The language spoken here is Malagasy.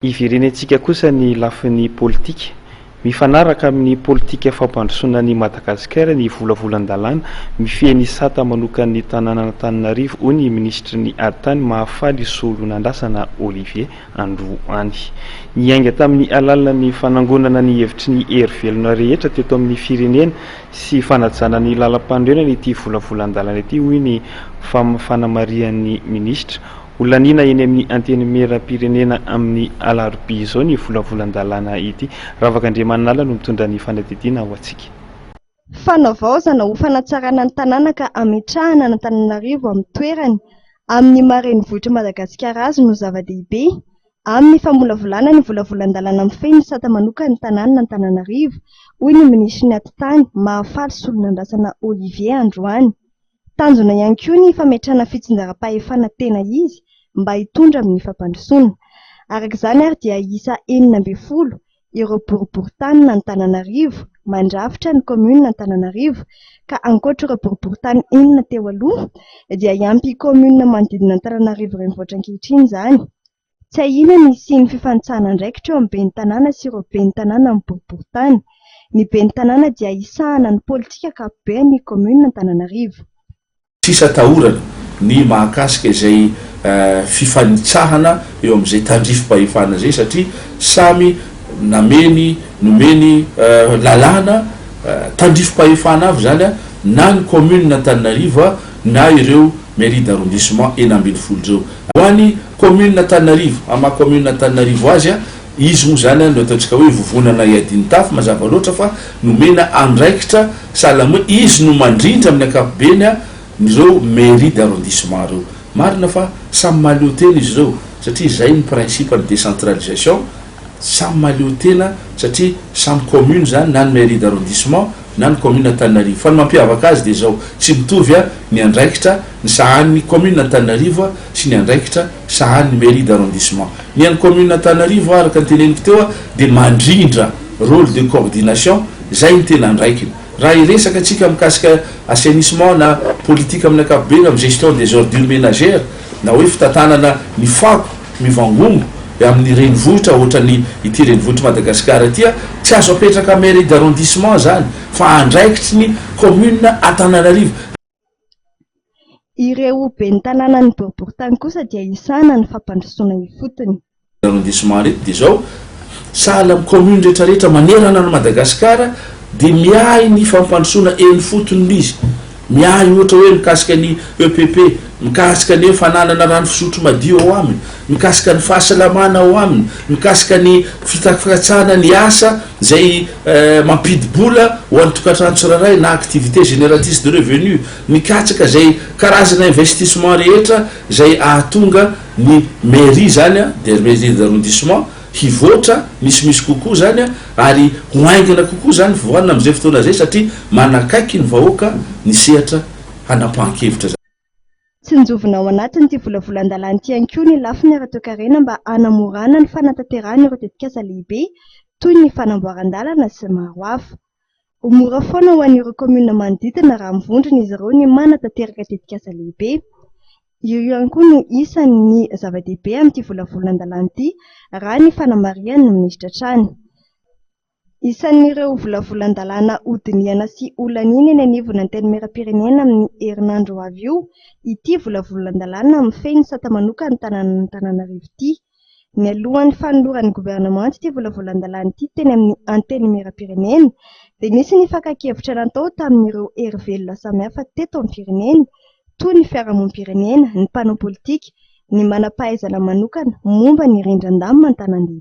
Iverenentsika kosa ny lafiny politika. Mifanaraka amin'ny politika fampandrosoana an'i Madagasikara ny volavolan-dalàna mifehy ny sata manokan'ny tanànan'Antananarivo, hoy ny minisitry ny Ady Tany, Mahafaly Solonandrasana Olivier, androany. Niainga tamin'ny alalan'ny fanangonana ny hevitry ny hery velona rehetra teto amin'ny firenena sy fanajana ny lalampanorenana ity volavolan-dalàna ity, hoy ny fanamarihan'ny minisitra. Holaniana eny amin'ny Antenimierampirenena amin'ny alarobia izao ny volavolan-dalàna ity. Ravaka Andriamanala no mitondra ny fanadihadiana ho antsika. Fanavaozana ho fanatsarana ny tanàna ka hametrahana an'Antananarivo amin'ny toerany amin'ny maha renivohitr'i Madagasikara azy no zava-dehibe amin'ny famolavolana ny volavolan-dalàna mifehy ny sata manokan'ny tanànan'Antananarivo, hoy ny minisitry ny Atitany, Mahafaly Solonandrasana Olivier androany. Tanjona ihany koa ny fametrahana fitsinjaram-pahefana tena izy mba hitondra amin'ny fampandrosoana. Araka izany ary dia isa enina ambin'ny folo ireo boriborintany an'Antananarivo mandrafitra ny kaominina Antananarivo ka ankoatr'ireo boriborintany enina teo aloha dia hiampy kaominina manodidina Antananarivo renivohitra ankehitriny izany. Tsy ahiana ny hisian'ny fifanitsahana andraikitra eo amin'ny ben'ny tanàna sy ireo ben'ny tanàna amin'ny boriborintany. Ny ben'ny tanàna dia hisahana ny politika ankapoben'ny kaominina Antananarivo. Tsisy atahorana ny mahakasika izay fifanitsahana eo amin'izay tandrifim-pahefana izay satria samy nameny, nomeny, lalàna, tandrifim-pahefana avy izany na ny kaominina Antananarivo, na ireo Mairie d'arrondissement enina ambin'ny folo ireo. Ho an'ny Commune Antananarivo, amin'ny maha Commune Antananarivo azy, izy moa izany no ataontsika hoe vovonana iadian'ny tafo mazava loatra fa nomena andraikitra sahala amin'ny hoe izy no mandrindra amin'ny ankapobeny an'ireo Mairie d'arrondissement ireo. Marina fa samy mahaleo tena izy ireo satria izay ny principe ny décentralisation Samy mahaleo tena satria samy commune zany na ny mairie d'arrondissement na ny commune Antananarivo fa ny mampiavaka azy dia izao, tsy mitovy a ny andraikitra ny sahanin'ny commune Antananarivo a sy ny andraikitra sahanin'ny mairie d'arrondissement. Ny an'ny commune Antananarivo a araka ny teneniko teo a dia mandrindra, role de coordination, zay ny tena andraikiny. Raha hiresaka tsika mikasika assainissement na politique amin'ny ankapobeny amin'ny gestion des ordures menagères, na hoe fitantanana ny fako mivangongo e amin'ny renivohitra ohatran'ny ity renivohitr'i Madagasikara ity a, tsy azo apetraka mairie d'arrondissement izany fa andraikitry ny commune Antananarivo. Ireo ben'ny tanànan'ny boriborintany kosa dia isahanan'ny fampandrosoana ifotony. arrondissement eto dia zao, sahala amin'ny commune rehetra rehetra manerana an'i Madagasikara dia miahy ny fampandrosoana eny fotony ny izy, miahy ohatra hoe mikasika ny EPP, mikasika ny hoe fananana rano fisotro madio ao aminy, mikasika ny fahasalamana ao aminy, mikasika ny fitakatsahana ny asa izay mampidi-bola ho an'ny tokantrano tsirairay na activité génératrice de revenu, mikatsaka izay karazana investissement rehetra izay ahatonga ny mairie izany an, der Mairie der Arrondissement, hivoatra misimisy kokoa izany an, ary ho haingana kokoa izany fivoarana amin'izay fotoana izay satria manakaiky ny vahoaka ny sehatra hanapahan-kevitra izany. Tsinjovina ao anatin'ity volavolan-dalàna ity ihany koa ny lafiny ara-toekarena mba hanamorana ny fanatanterahana ireo tetikasa lehibe toy ny fanamboaran-dalana sy maro hafa. Ho mora foana ho an'ireo kaominina manodidina raha mivondrona izy ireo ny manatanteraka tetikasa lehibe. Io ihany koa no isan'ny zava-dehibe amin'ity volavolan-dalàna ity, raha ny fanamarihan'ny minisitra hatrany. Isan'ireo volavolan-dalàna hodinihana sy holaniana eny anivon'ny Antenimierampirenena amin'ny herinandro ho avy io ity volavolan-dalàna mifehy ny sata manokan'ny tanànan'Antananarivo ity. Nialohan'ny fanoloran'ny governemanta ity volavolan-dalàna ity teny amin'ny Antenimierampirenena dia nisy ny fakan-kevitra natao tamin'ireo hery velona samihafa teto amin'ny firenena toy ny fiarahamonim-pirenena, ny mpanao politika, ny manam-pahaizana manokana momba ny rindran-damina an-tanàn-dehibe.